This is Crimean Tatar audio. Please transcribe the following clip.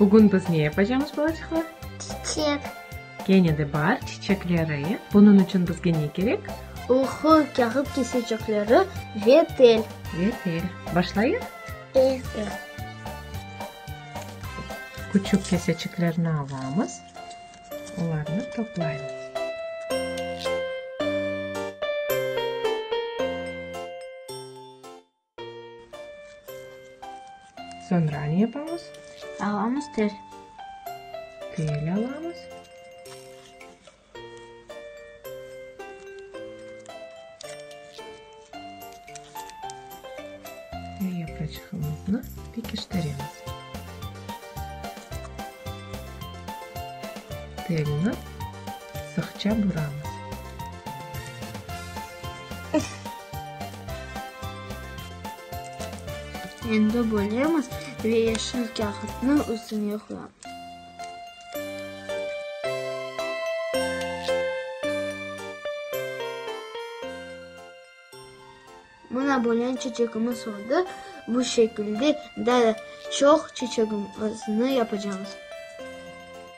Bugün biz ne yapacamız, balaçıqlar? Çiçek. Kene de bar, çiçekleri. Bunıñ içün bizge ne kerek? Oğru kâğıt kesecekleri ve tel. Ve tel. Başlayıq? Eee. Küçük keseçiklerni alamız, olarnı toplaymız. Soñra ne yapamız? Alamız tel. Tel alamız. Ve yapraçığımıznı pekiştiremiz. Telni sıqça buramız. Endi bölemiz ve yeşil kâğıtnı üstüne qoyamız. Mına bölen çeçekimiz oldı. Bu şekilde daa çoq çeçekimizni yapacağımız.